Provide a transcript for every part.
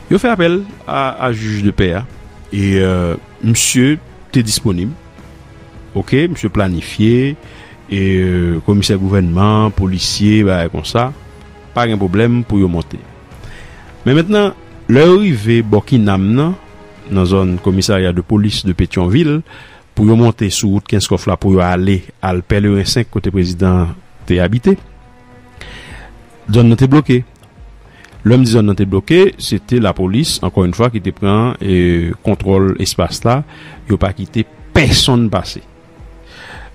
Yo fè apèl a jij de pè a e misye te disponib ok misye planifye e komisè gouvènman polisye bagay konsa pa gen pwoblèm pou yo monte men mentnan lè yo rive bò kinam nan nan zòn komisarya de polis de petyonvil pou yo monte sou wout kenskòf la pou yo ale al pèleren 5 kote prezidan te abite. Zòn nan te bloke. Lè m di zòn nan te bloke, se te lapolis, ankò yon fwa, ki te pran kontwòl espas la. Yo pa kite pèsonn pase.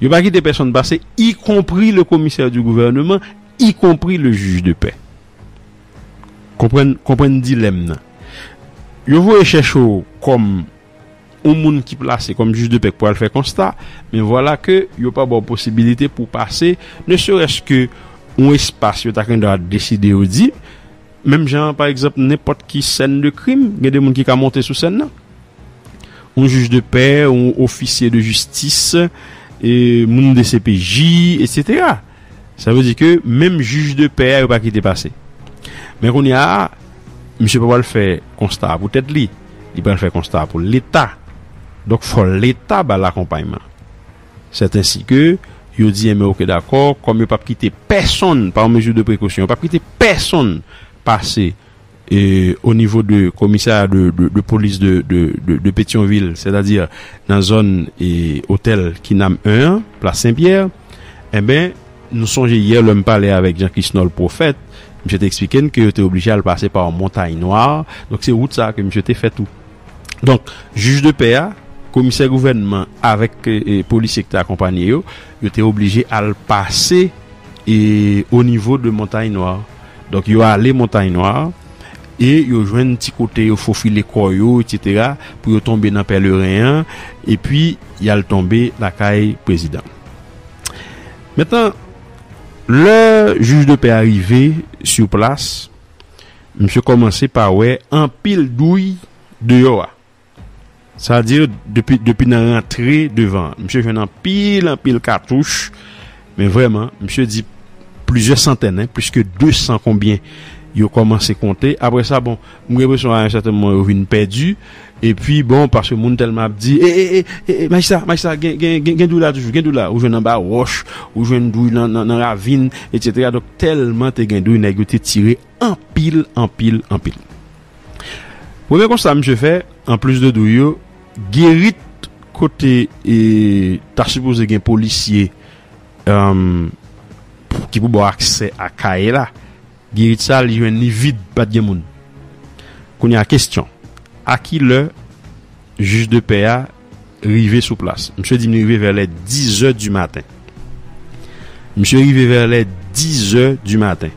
Yo pa kite pèsonn pase, ikonpri le komisè di gouvèneman, ikonpri le jij de pè. Konprann dilèm nan. Yo voye chèche w kòm. yon moun ki plase kòm jij de pè k pou al fè konsta, men vwala ke yo pa ba w posibilite pou w pase ne serès ke yon espas yo ta kendwa deside yo di, menm jan an pa egzanp nenpòt ki sèn de krim gen de moun ki ka monte sou sèn nan. Yon jij de pè, yon ofisye de jistis, moun dcpj, etsetera. Sa vle di ke menm jij de pè a yo pa kite pase. Men kounye a, misye pa pral fè konsta a pou tèt li, li pral fè konsta a pou leta. Donk fò leta ba l akonpayman. Sètensi ke yo di enben oke dakò, kòm yo p ap kite pèsonn, pa yon mezi de prekosyon, yo p ap kite pèsonn pase o nivo de komisarya de polis de petyonvil sètadi nan zòn otèl kinam 1 an plas sen pyè enben nou sonje yè lèm pale avèk jan krisnòl pwofèt misye te eksplike n ke yo te oblije al pase pa yon montay nwa donk se wout sa ke misye te fè tou donk jij de pè a komisè gouvènman avèk polisye ki te akonpanye yo. Yo te oblije al pase o nivo de Montagne Noire. Donk yo ale Montagne Noire e yo jwenn ti kote yo fofile kò yo eksetera pou yo tonbe nan pèleren an epi y al tonbe lakay prezidan. Mentnan, lè jij de pè a rive sou plas, misye kòmanse pa wè anpil douy deyò a. Sa di depi depi nan rantre devan misye jwenn anpil anpil katouch men vrèman misye di plizyè santèn plis ke 200 konbyen yo kòmanse konte apre sa bon m gen enpresyon a yon sèten moman yo vin pèdi epi bon paske moun tèlman ap di e e e e e majistra majistra gen gen gen dri la toujou gen dri la ou jwenn anba wòch ou jwenn dri nan nan ravin etsetera donk tèlman te gen dri nèg yo te tire Anpil anpil anpil. Premye konsta misye fè, anplis de dou yo, Gerit kote ta sipoze gen polisye ki pou ba w aksè a kay la, Gerit sa li jwenn li vid, pa t gen moun. Kounye a, kesyon, a ki lè jij de pè a Rive sou plas. Misye di m li rive vè lè dizè di maten. Misye rive vè lè dizè di maten.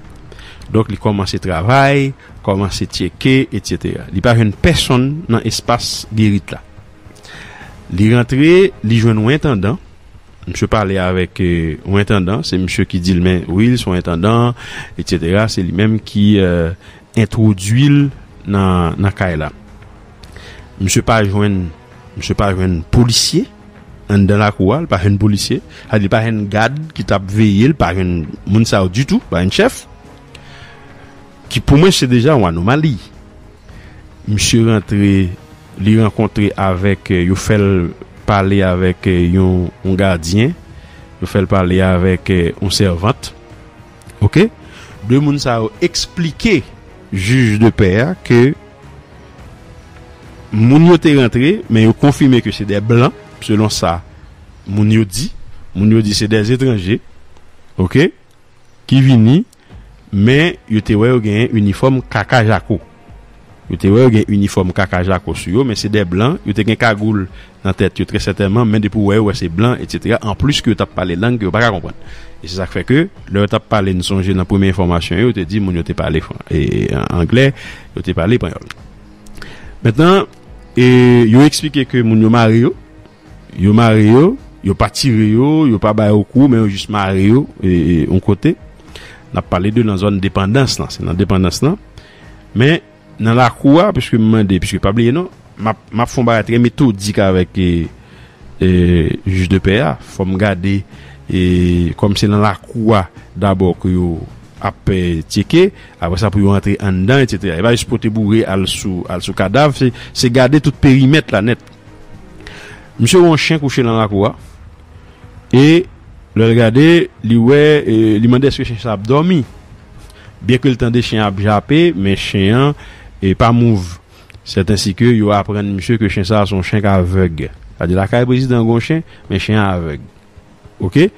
Donk li kòmanse travay, kòmanse tyeke, etsetera. Li pa jwenn pèsonn nan espas gerit la. Li rantre, li jwenn yon entandan. Misye pale avèk yon entandan. Se misye ki di l men wi l son entandan, etsetera. Se li menm ki entwodui l nan kay la. Misye pa jwenn Misye pa jwenn polisye Anndan lakou a li pa jwenn polisye Sa vle di li pa jwenn gad ki t ap veye l pa jwenn moun sa yo ditou pa jwenn chèf Ki pou mwen se deja yon anomali Misye rantre Li rankontre avèk Yo fè l pale avèk yon gadyen Yo fè l pale avèk yon sèvant ok 2 moun sa yo esplike jij de pè a ke moun yo te rantre men yo konfime ke se de blan selon sa moun yo di moun yo di se de etranje ok ki vini men yo te wè yo genyen inifòm kaka jako. Yo te wè yo gen inifòm kaka jako sou yo men se de blan, yo te gen kagoul nan tèt yo trè sètènman men depi w wè yo wè se blan etsetera anplis ke yo t ap pale lang ke yo pa ka konprann e se sa k fè ke lè yo t ap pale n sonje nan premye enfòmasyon yo te di moun yo te pale anglè yo te pale panyòl mentnan e yo eksplike ke moun yo mare yo. Yo mare yo, yo pa tire yo, yo pa ba yo kou men yo jis mare yo yon kote. N ap pale de nan zòn depandans lan, se nan depandans lan. Men nan lakou a, pwiske m mande, pwiske pa bliye non, m ap fon bagay trè metodik avèk jij de pè a, fò m gade kòm se nan lakou a dabò ke yo ap tyeke, apre sa pou yo antre anndan, etsetera. E pa jis pote boure al sou kadav, se gade tout perimèt la nèt. Misye wè yon chen kouche lan lakou a, e lè l gade, li wè, li mande èske chen sa ap dòmi. Byen ke l tande chen an ap jape, men chen an pa mouv. Sètensi ke yo aprann misye ke chen sa a se yon chen k avèg. Sa vle di lakay prezidan an gen yon chen, men chen an avèg. Ok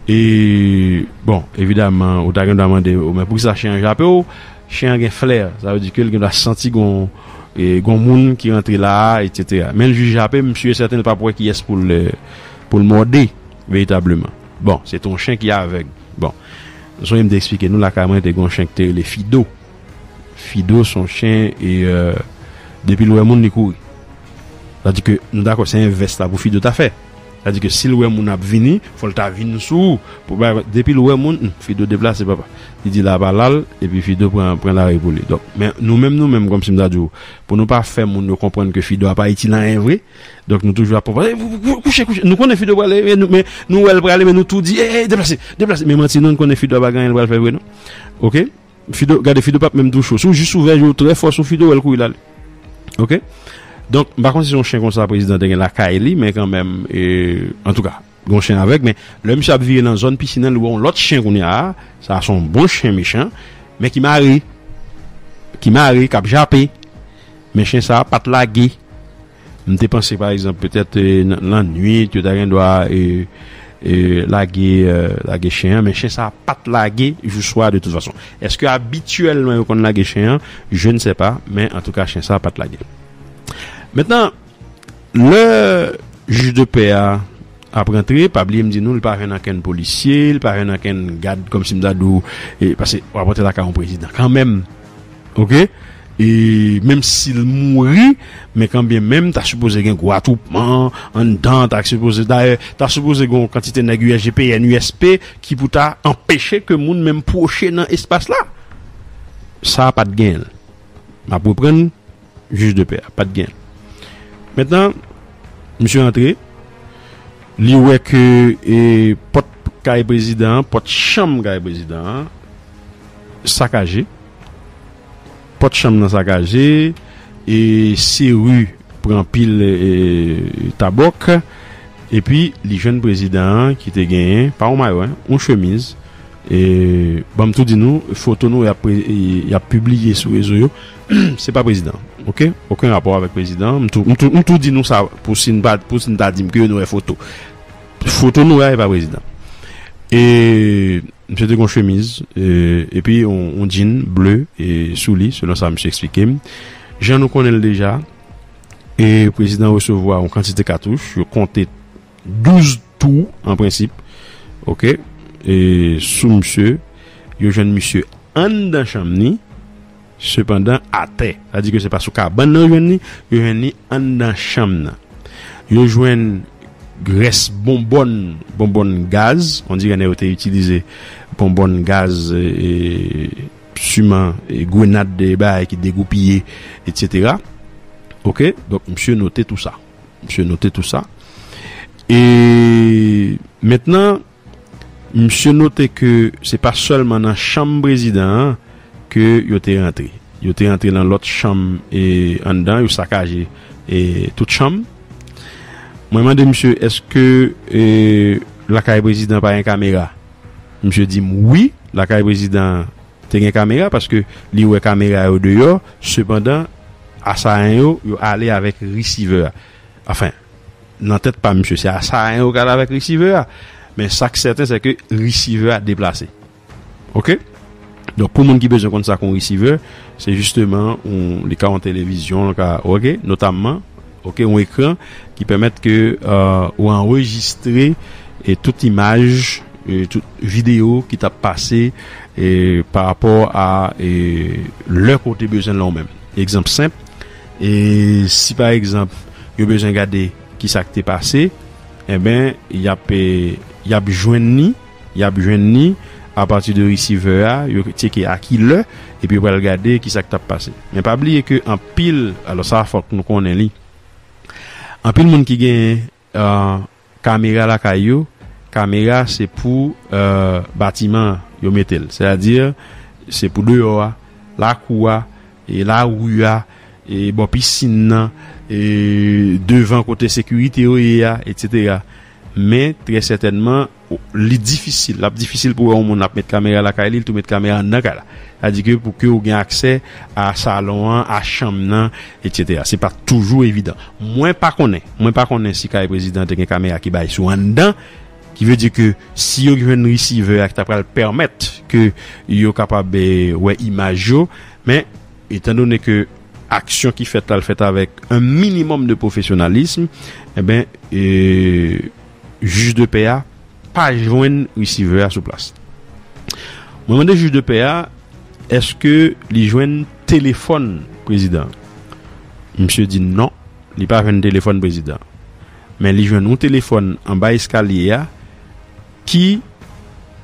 e bon evidaman ou ta gen dwa mande yo men poukisa chen an jape w chen an gen flè sa vle di ke l gen dwa santi gon e gon moun ki rantre la a etsetera men l jis jape m si e sèten l pap wè kiyès pou l pou l mòde veritableman bon se te yon chen ki avèg bon m sonje m te esplike nou lakay mwen te gen yon chen ki te rele fido fido se yon chen e depi l wè moun li kouri sa vle di ke nou dakò se envès la pou fido ta fè. Sa di ke sil wè moun ap vini fòl ta vin sou ou pou bay kont depil wè moun humm Fido deplase papa li di la pa lal epi Fido pran pran lari pou li donk men nou menm nou menm kòmsi m ta di w pou nou pa fè moun yo konprann ke Fido a pa itil anyen vre donk nou toujou ap papa eee kouche kouche nou konnen Fido prale men nou men nou wèl prale men nou tou di eee deplase deplase men manti nou n konnen Fido a pa gen anyen l pral fè vre non ok. Fido gade fido pap menm touche w si w jis ouvè je w trè fò sou fido wè l kouri l ale ok donk m pa konn si se yon chen konsa prezidan te gen lakay li men kanmenm antouka gon chen avèg men lè misye ap vire nan zòn pisin an li wè yon lòt chen kounye a sa a se yon bon chen mechan men ki mare ki mare k ap jape men chen sa a pa t lage M te panse pa egzanp petèt lannuit yo ta gen dwa lage chen an men chen sa pa t lage jou swa de tout fason. Èske abityèlman yo konn lage chen an? Je ne sais pas men antouka chen sa pa t lage. Mentnan lè jij de pè a ap rantre pa bliye m di nou li pa jwenn ankenn polisye li pa jwenn ankenn gad kòmsi m ta di w pase w ap rantre lakay yon prezidan kanmenm. Ok e menm sil mouri men kanbyen menm ta sipoze gen gwo atwoupman anndan ta sipoze dayè ta sipoze gen yon kantite nèg usgpn usp ki pou ta anpeche ke moun menm pwoche nan espas la sa pat genyen map reprann Jij de pè a pat gen Mentnan Misye antre Li wè ke e pòt kay prezidan an pòt chanm kay prezidan an Sakaje Pòt chanm nan sakaje E seru pran pil e tabòk Epi li jwenn prezidan an ki te genyen pa yon mayo hein yon chemiz E banm tou di nou foto nou yap e yap pibliye sou rezo yo. Se pa prezidan ok oken rapò avèk prezidan m tou m tou di nou sa pou si n pa pou si n ta di m ke yo nou wè foto foto nou wè a e pa prezidan e msye te gon chemiz epi yon djin ble e sou li selon sa msye eksplike m jan nou konnen l deja e prezidan resevwa yon kantite katouch yo konte 12 tou an prensip ok e sou msye yo jwenn msye anndan chanm ni Sepandan, atè, sa di ke se pa sou kabann nan yo jwenn li, yo jwenn li anndan chanm nan. Yo jwenn rès bonbòn, bonbòn gaz, on dirè nèg yo te itilize bonbòn gaz, siman grenad e bagay ki degoupiye, etsetera. Oke, donk misye note tou sa. Misye note tou sa. E, mentnan. Misye note ke se pa sèlman nan chanm prezidan an ke yo te rantre. Yo te rantre nan lòt chanm anndan, yo sakaje tout chanm. Mwen mande misye eske lakay prezidan pa gen kamera? Misye di m wi, lakay prezidan an te gen kamera paske li wè kamera yo deyò, sepandan asayan yo, yo ale avèk resivè a. Anfen. Nan tèt pa misye se asayan yo kal avèk resivè a men sak sèten sèke resivè a deplase ok donk pou moun ki bezwen konn sa kon resivè se jisteman yon li ka yon televizyon li ka ok notamman ok yon ekran ki pèmèt ke ou anrejistre e tout imaj e tout video ki tap pase e pa rapò a e lè kote bezwen lan ou menm egzanp senp. E si pa egzanp yo bezwen gade ki sa k te pase, enben y ap y ap jwenn ni, y ap jwenn ni apati de resivè a, yo tyeke a ki lè epi yo pral gade ki sa k t ap pase. Men pa bliye ke anpil, alò sa a fòk nou konnen li, anpil moun ki gen Kamera lakay yo, Kamera se pou batiman an yo mete l, sètadi se pou deyò a, lakou a, lari a, bò pisin nan, devan kote sekirite yo ye a, etsetera. Men trè sètènman Li difisil, l ap difisil pou w wè yon moun ap met kamera lakay li, l tou met kamera anndan kay la. Sa di ke pou ke w gen aksè a salon an, a chanm nan, eksetera. Se pa toujou evidan. Mwen pa konnen, mwen pa konnen si kay prezidan an te gen kamera ki bay sou anndan, ki vle di ke si yo jwenn resivè a ki ta pral pèmèt ke yo kapab wè imaj yo. Men, etan done ke aksyon ki fèt la, l fèt avèk an minimòm de pwofesyonalism, enben, jij de pè a pa jwenn resivè a sou plas. Mwen mande jij de pè a eske li jwenn telefòn prezidan an. Misye di non, li pa jwenn telefòn prezidan an. Men li jwenn yon telefòn anba eskalye a ki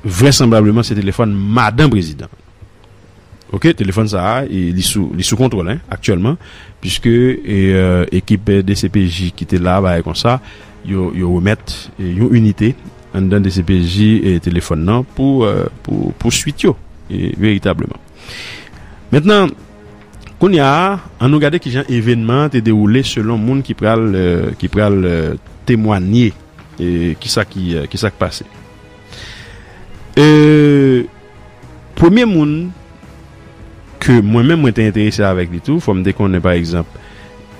vrèsanblableman se telefòn madan prezidan an. Ok telefòn sa a li sou li sou kontwòl hein aktyèlman puiske ekip dcpj ki te la bagay konsa yo yo remèt yon inite anndan dcpj telefòn nan pou pou pou swit yo veritableman mentnan kounya a an nou gade kijan evènman an te dewoule selon moun ki pral ki pral temwanye kisa ki kisa k pase eee. Premye moun ke mwen menm mwen te enterese avèk li tou, fòm te konnen pa egzanp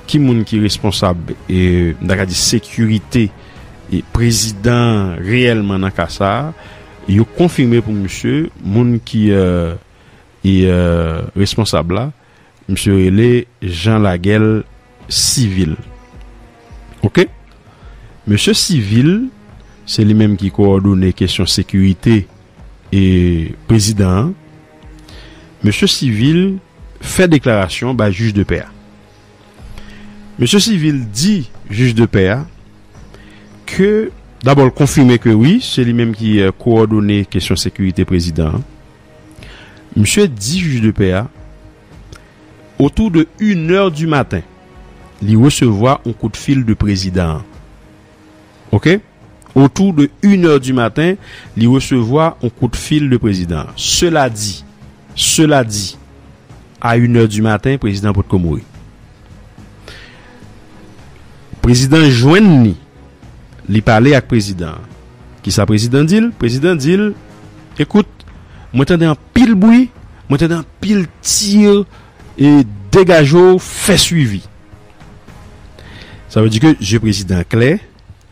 ki moun ki responsab m ta ka di sekirite prezidan an reyèlman nan ka sa, yo konfime pou misye moun ki responsab la. Misye rele Jean Laguel Civil ok. Mesye Civil se li menm ki kowòdone kesyon sekirite e prezidan an. Mesye Civil fè deklarasyon bay jij de pè a. Mesye Civil di jij de pè a ke dabò l konfime ke wi se li menm ki kowòdone kesyon sekirite prezidan an. Misye di jij de pè a, otou de inè di maten, li resevwa yon kout fil de prezidan an. Ok? Otou de inè di maten, li resevwa yon kout fil de prezidan an. Sela di, sela di, a inè di maten, prezidan an potko mouri. Prezidan jwenn li. Li pale ak prezidan an. Kisa prezidan di l? Prezidan di l, Ekout, mwen tande anpil bwi, mwen tande anpil tir, e degaje w fè swivi. Sa vle di ke zye prezidan an klè,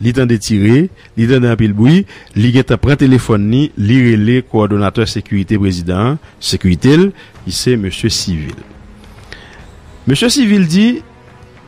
li tande tire, li tande anpil bwi, li gen tan pran telefòn li, li rele kowòdonatè sekirite prezidan an, sekirite l, ki se mesye Civil. Mesye Civil di.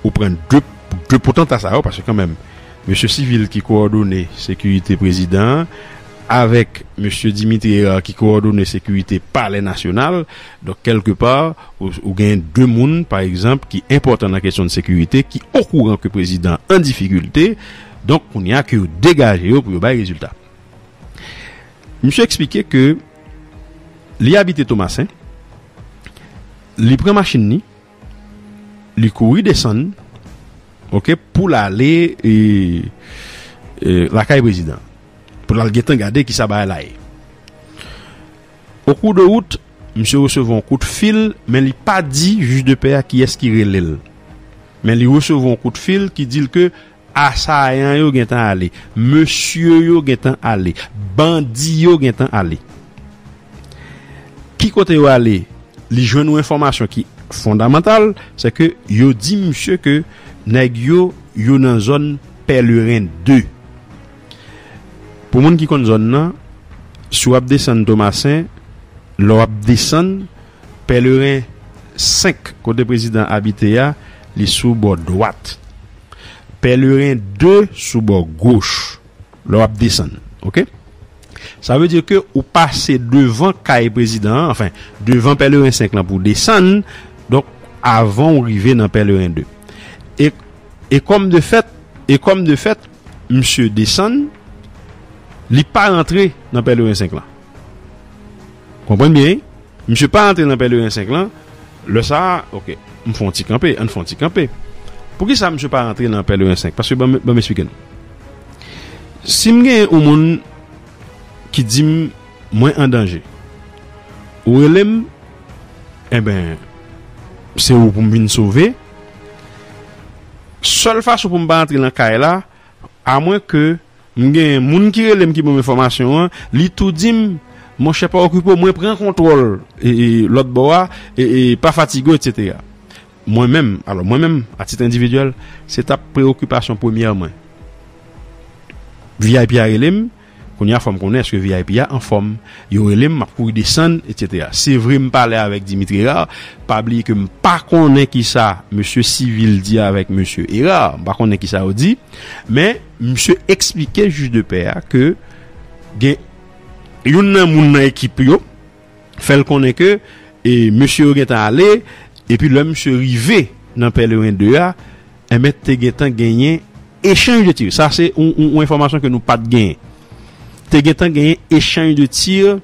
Ou pran de potanta sa yo, paske kanmenm mesye Civil ki kowòdone sekirite prezidan an avèk mesye Dimitri Herard ki kowòdone sekirite palè nasyonal, donk kèlke pa ou gen de moun pa egzanp ki enpòtan nan kesyon de sekirite ki okouran ke prezidan an difikilte, donk kounye a ke yo degaje yo pou yo bay rezilta. Misye eksplike ke li abite Tomasen, li pran machin ni. li kouri desann ok pou l ale lakay prezidan pou l al gentan gade kisa bagay la ye o kou de wout misye resevwa yon kout fil men li pa di jij de pè a kiyès ki rele l men li resevwa yon kout fil ki di l ke Asayan yo gentan ale. Mesye yo gentan ale. Bandi yo gentan ale. Ki kote yo ale? Li jwenn yon enfòmasyon ki fondamantal, se ke yo di misye ke nèg yo, yo nan zòn Pèleren 2. Pou moun ki konn zòn nan, si w ap desann Tomasen, lè w ap desann, Pèleren 5, kote prezidan an abite a, li sou bò dwat. Pèleren 2 sou bò goch, lè w ap desann. Oke? Sa vle di ke ou pase devan kay prezidan an, anfen, devan pèleren 5 lan pou w desann, donk, avan ou rive nan pèleren 2. E, e kòm de fèt, e kòm de fèt, misye desann, li pa rantre nan pèleren 5 lan. Konprann byen wi. Misye pa antre nan pèleren 5 lan, lè sa a, ok, m fè yon ti kanpe, ann fè yon ti kanpe. Poukisa misye pa rantre nan pèleren 5? Paske ban m esplike nou. Si m genyen yon moun ki di m mwen an danje, ou rele m, enben, se ou pou m vin sove. Sèl fason pou m pa antre nan kay la, A mwen ke m gen moun ki rele m ki ban m enfòmasyon an, li tou di m, Monchè pa okipe w, mwen pran kontwòl lòt bò a, pa fatige w, etsetera. Mwen menm, alò mwen menm, a tit endividyèl, se t ap preyokipasyon premyè mwen. Vip a rele m. Kounya fòm konnen eske vip a anfòm yo relem map kouri desann etc sevre m pale avèk Dimitri Herard pa bliye ke m pa konnen kisa mesye civil di avèk mesye Herard m pa konnen kisa yo di men misye eksplike jij de pè a ke gen youn nan moun nan ekip yo. fè l konnen ke mesye yo gentan ale, epi lè misye rive nan Pèleren 2 a, enben te gentan genyen echanj de tir. Sa se yon enfòmasyon ke nou pat genyen. Te gentan genyen echanj de tir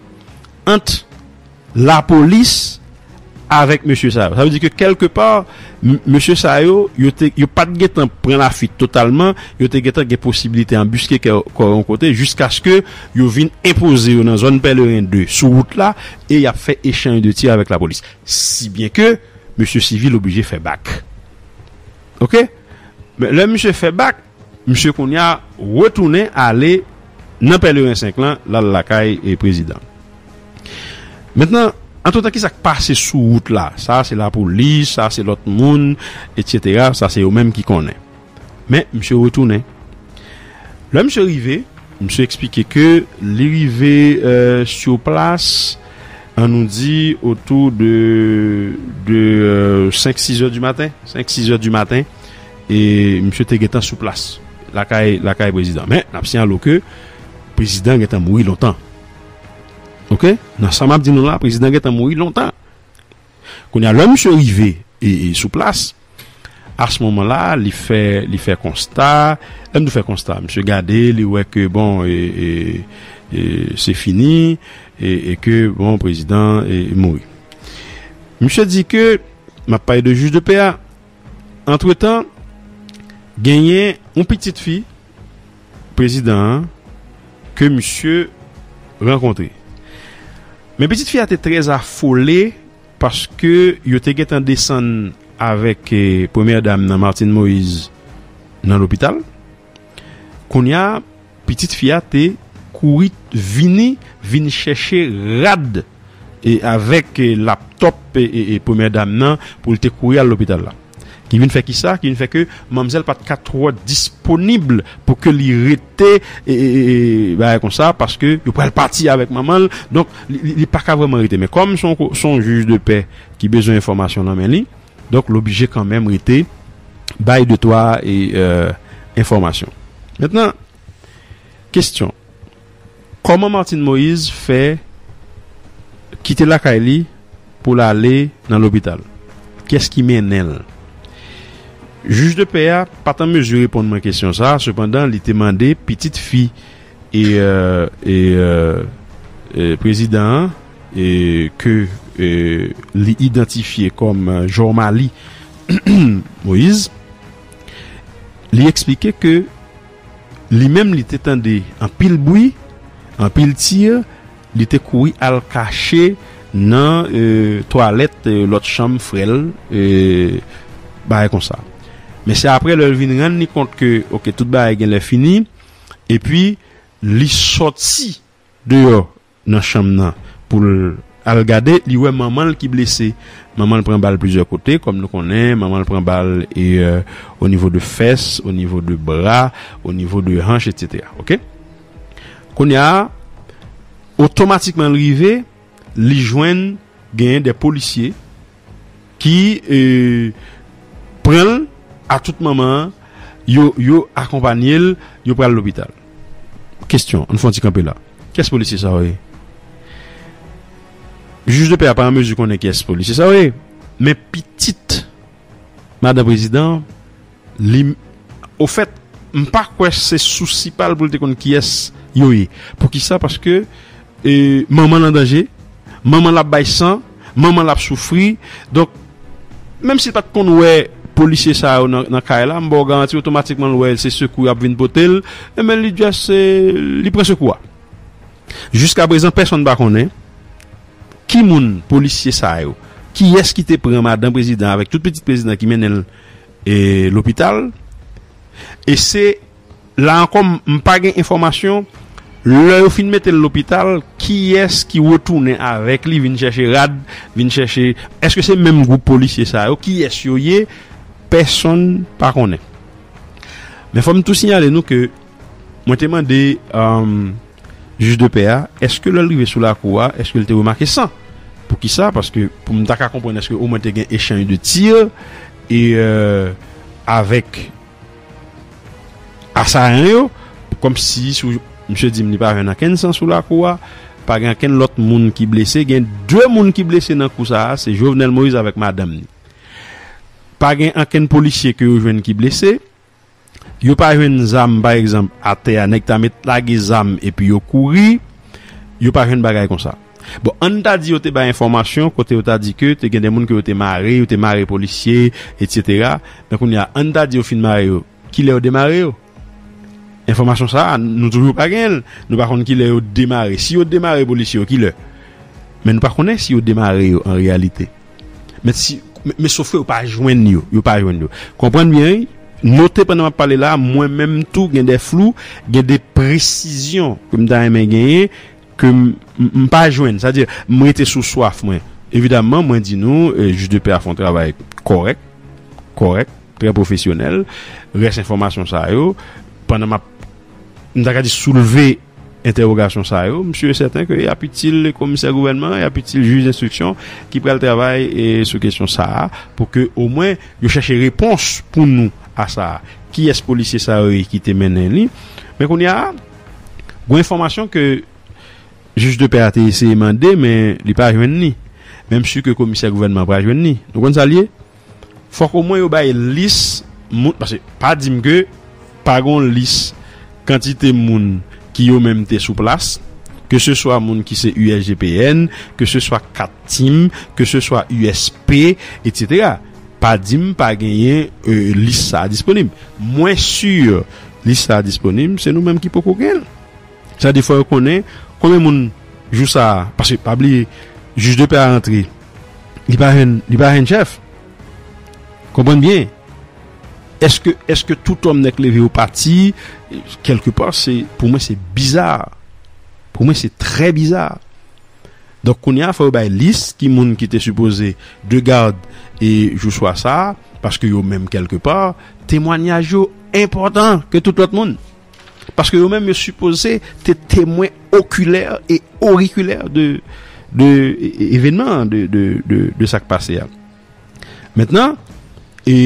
ant lapolis. Avèk mesye sa yo. Sa vle di ke kèlke pa, mesye sa yo, yo te, yo pa t gen tan pran lafuit totalman, yo te gen tan gen posibilite anbuske kè kò yon kote jiskaske yo vin enpoze yo nan zòn Pèleren 2, sou wout la, e y ap fè echanj de tir avèk lapolis. Si byen ke mesye Sivil oblije fè bak. Ok. Men, lè misye fè bak. Misye kounya retounen ale nan pèleren 5 lan lal lakay prezidan mentnan antretan kisak pase sou wout la sa se lapolis sa se lòt moun etc sa se yo menm ki konnen men misye retounen lè misye rive misye eksplike ke li rive sur plas an nou di otou de 5 6 zè du maten 5 6 zè du maten. E misye te gentan sou plas lakay lakay prezidan. Men, n ap siyalo ke prezidan gentan mouri lontan. Ok? Nan sa m ap di nou la, prezidan gentan mouri lontan. Kounye a, lè misye rive e sou plas, a s moman la, li fè li fè konsta, lè m di fè konsta, misye gade, li wè ke bon e e e se fini e ke bon prezidan e mouri. Misye di ke, m ap pale de jij de pè a. Antretan, genyen yon pitit fi prezidan an ke misye rankontre. Men pitit fi a te trè afole paske yo te gentan desann avèk Premyè Dam nan Martine Moïse nan lopital. Kounye a, pitit fi a te kouri vini vin chèche rad e avèk laptòp premyè dam nan pou l te kouri al lopital la. Ki vin fè ki sa? Ki vin fè ke manmzèl pa t ka twò disponib pou ke li rete bagay kon sa paske yo pral pati avèk manman l. Donk, li pa ka vrèman rete. Men kòm se yon jij de pè ki bezwen enfòmasyon nan men li. Donk l oblije kanmenm rete bay de twa enfòmasyon. Mentnan, kesyon, kòman Martine Moïse fè kite lakay li pou l ale nan lopital? Kès ki mennen l? Jij de pè a pa t an mezi reponn mwen kesyon sa a, sepandan li te mande pitit fi prezidan an, ke li idantifye kòm Jormalie Moïse, li eksplike ke li menm li te tande anpil bwi, anpil tir, li te kouri al kache nan twalèt lòt chanm frè l, bagay konsa. Men se aprè lè l vin rann li kont ke ok tout bagay genlè fini epi li sòti deyò nan chanm nan pou l al gade li wè manman l ki blese manman l pran bal plizyè kote kòm nou konnen manman l pran bal e o nivo de fès o nivo de bra o nivo de hanch etc ok kounye a otomatikman l rive li jwenn genyen de polisye. ki pranl a tout manman an yo yo akonpanyel yo pral lopital kesyon ann fon ti kanpe la kiyès polisye sa yo ye jij de pè a pa an mezi konnen kiyès polisye sa yo ye men pitit madan prezidan. Li Ofèt, m pa kwè se sousi pa l pou l te konn kiyès yo ye. Poukisa? Paske manman l an danje, manman l ap bay san, manman l ap soufri. Donk, menm si l pa t konn wè polisye sa yo nan kay la, m ba w garanti otomatikman l wè se sekou y ap vin pote l. Enben, li just li pran sekou a. Jiskaprezan, pèsonn pa konnen ki moun polisye sa yo, kiyès ki te pran madan prezidan avèk tout pitit prezidan ki mennen l. E lopital? E se, la ankò m pa gen enfòmasyon, lè yo fin mete l lopital, kiyès ki retounen avèk li vin chèche rad, vin chèche, èske se menm gwoup polisye sa yo, kiyès yo ye, pèsonn pa konnen. Men fò m tou siyale nou ke. Mwen te mande jij de pè a, èske lè l rive sou lakou a, èske l te remake san? Poukisa? Paske pou m ta ka konprann èske omwen te gen echanj de tir e avèk asayan yo, kòmsi sou misye di m li pa jwenn ankenn san sou lakou a, pa gen ankenn lòt moun ki blese. Gen de moun ki blese nan kou sa a, se Jovenel Moïse avèk madanm ni. Pa gen ankenn polisye ke yo jwenn ki blese. Yo pa jwenn zam pa egzanp atè a nèg ta met lage zam epi yo kouri yo pa jwenn bagay konsa bon ann ta di yo te bay enfòmasyon kote yo ta di ke te gen de moun ke yo te mare yo te mare polisye etsetera men kounye a ann ta di yo fin mare yo kilè yo demare yo enfòmasyon sa a nou toujou pa genyen l nou pa konn kilè yo demare si yo demare polisye yo kilè men nou pa konnen si yo demare yo an reyalite. Men si Men sofke yo pa jwenn yo Yo pa jwenn yo Konprann byen wi Note pandan m ap pale la a mwen menm tou gen de flou Gen de presizyon ke m ta renmen genyen Ke m m pa jwenn Sa vle di m rete sou swaf mwen Evidaman mwen di nou Jij de pè a fè yon travay kòrèk Kòrèk Trè pwofesyonèl Rès enfòmasyon sa yo Pandan m ap M ta ka di soulve Entèwogasyon sa yo, m si e sèten ke y ap itil komisè gouvènman an, y ap itil jij enstriksyon ki pral travay sou kesyon sa a pou ke omwen yo chache repons pou nou a sa a. Kiyès polisye sa yo ye ki te mennen li? Men kounye a, gwen enfòmasyon ke jij de pè a te eseye mande men li pa jwenn li. Men m si ke komisè gouvènman an pral jwenn li. Nou konn sa l ye? Fòk o mwen yo bay lis moun paske pa di m ke pa gon lis kantite moun ki yo menm te sou plas ke se swa moun ki se usgpn ke se swa kat tim ke se swa usp etc pa di m pa genyen lis sa a disponib mwen sur lis sa a disponib se nou menm ki poko gen l sa de fò yo konnen konbyen moun jou sa a paske pa bliye jij de pè a rantre. Li pa jèn, li pa jèn chèf. Konprann byen. Eske, eske tout òm nèk leve yo pati, kèlke pa se, pou mwen se biza. Pou mwen se trè biza. Donk kounye a fò yo bay lis ki moun ki te sipoze de gad e jou swa sa, paske yo menm kèlke pa, temwanyaj yo enpòtan ke tout lòt moun. Paske yo menm yo sipoze te temwen okilè e orikilè de evenman, de sa k pase a. Mentnan, e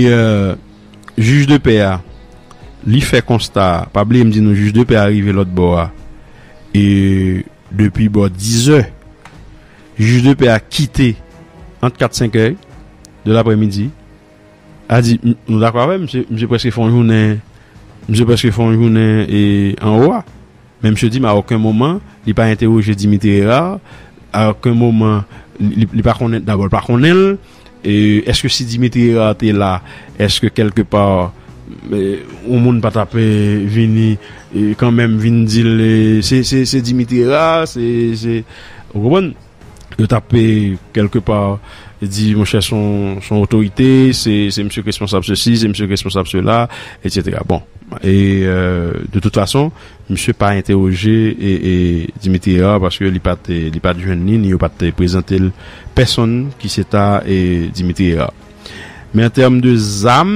jij de pè a, li fè konsta, pa bliye m di nou jij de pè a rive lòt bò a, e depi bò dizè, jij de pè a kite ant kat senkè de lapremidi, A di, Nou dakò avè m, misye prèske fè yon jounen, misye prèske fè yon jounen anwo a. Men misye di m a oken moman li pa entewoje Dimitri Herard, a oken moman li pa konnen, dabò li pa konnen l, èske si Dimitri Herard te la, èske kèlke pa yon moun pa t ap vini kanmenm vin di l se Dimitri Herard, se, se, ou konprann? Yo t ap kèlke pa di monchè s on otorite, se misye k responsab sesi, se misye k responsab sela, etsetera. Bon, e de tout fason, misye pa entewoje Dimitri Herard paske li pa t jwenn li, ni yo pa t prezante l pèsonn ki se ta Dimitri Herard. Men an tèm de zam,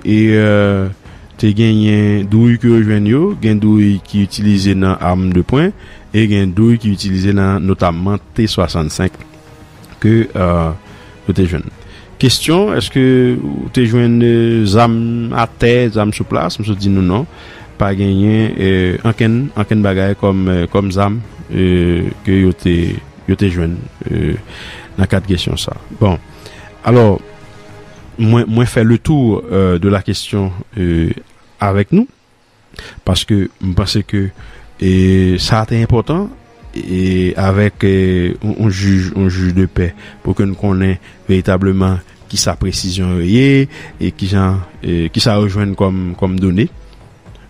te genyen douy ke yo jwenn yo, gen douy ki itilize nan am de pwen e gen douy ki itilize nan notamman T 65 ke yo te jwenn. Kestyon, eske ou te jwenn zam a tè, zam sou plas? Msot di nou non, pa genyen ankenn, ankenn bagay kòm, kòm zam ke yo te, yo te jwenn nan kad kestyon sa. Bon. Alò, mwen, mwen fè le tou de la kesyon avèk nou, paske m panse ke sa a te enpòtan avèk yon jij, yon jij de pè, pou ke n konnen veritableman ki sa presizyon yo ye, e ki jan, ki sa yo jwenn kòm, kòm done.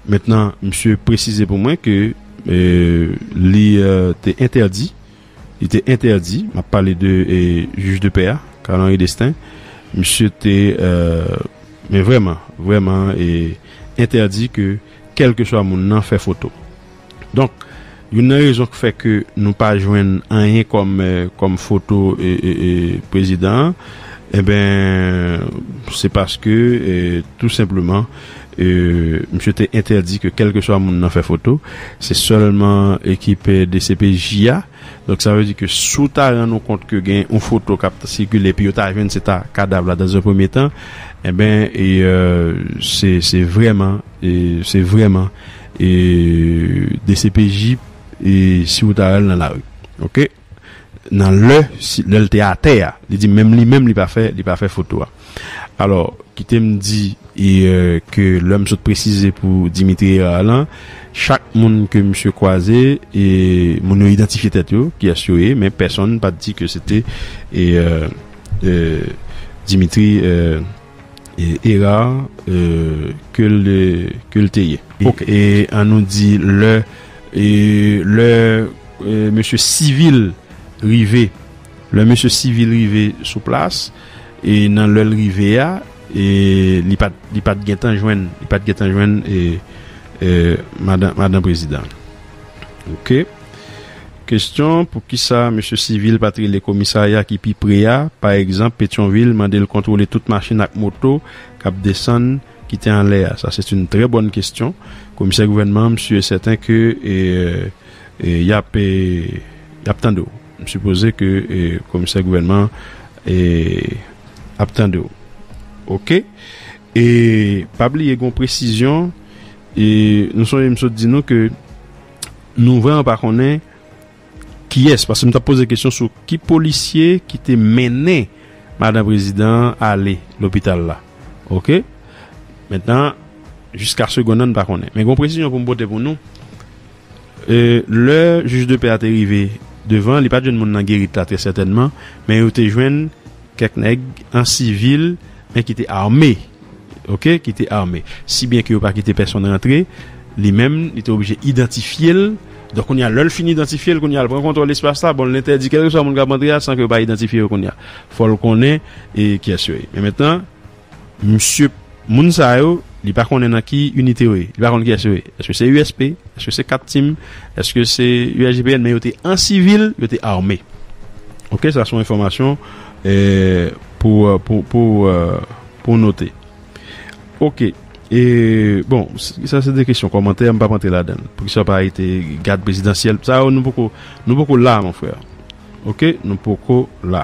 Mentnan, misye presize pou mwen ke li te entèdi. Li te entèdi, m ap pale de jij de pè a, Carl Henri Destin, misye te, men vrèman, vrèman entèdi ke kèlkeswa moun nan fè foto. Donk, youn nan rezon k fè ke nou pa jwenn anyen kòm, kòm foto prezidan an, enben, se paske tou senpleman Misye te entèdi ke kèlkeswa moun nan fè foto, se sèlman ekip dcpj a. Donk sa vle di ke si w ta rann ou kont ke gen yon foto k ap sikile epi yo ta jwenn se ta kadav la dans un premier temps, enben se vrèman, se vrèman dcpj si w ta al nan lari. Ok. nan lè lè l te atè a li di menm li menm li pa fè li pa fè foto a alò kite m di e ke lè m sot presize pou Dimitri Herard lan chak moun ke misye kwaze e moun yo idantifye tèt yo kiyès yo ye men pèsonn pa t di ke se te e e Dimitri e. Era ke l te ye. Ok. E an nou di lè lè mesye sivil rive lè mesye sivil rive sou plas e nan lè l rive a e li pa t li pa t gen tan jwenn li pa t gen tan jwenn e madan madan prezidan. Ok. Kesyon, Poukisa mesye Civil pa t rele komisarya ki pi pre a, pa egzanp Petyonvil, mande l kontwole tout machin ak moto k ap desann, kite anlè a? Sa c'est une très bonne question. Komisè gouvènman an, m sûr et certain ke y ap y ap tande w. M sipoze ke komisè gouvènman an ap tande w. Ok. E pa bliye gen yon presizyon, nou sonje m sot di nou ke Nou vreman pa konnen kiyès paske m tap poze kesyon sou ki polisye ki te mennen madan prezidan an ale lopital la ok mentnan jiska segonn nan n pa konnen men gon presizyon pou m pote pou nou lè jij de pè a te rive devan li pat jwenn moun nan gerit la trè sètènman men yo te jwenn Kèk nèg an sivil men ki te ame ok ki te ame si byen ke yo pa kite pèsonn rantre li menm li te oblije idantifye l donk kounye a lè l fin idantifye l kounye a l pran kontwòl espas la bon l entèdi kèlkeswa moun k ap antre a san ke yo pa idantifye yo kounye a fò l konnen e kyès yo ye men mentnan Misye p moun sa yo, li pa konnen nan ki inite yo ye, li pa konn kiyès yo ye, èske se USP, èske se cat team, èske se USGPN men yo te an sivil, yo te arme. Ok sa son enfòmasyon pou pou note. Ok e bon sa se de kesyon kòmantè m pap antre ladann poukisa yo pa arete gad prezidansyèl sa yo nou poko nou poko la mon frè ok nou poko la.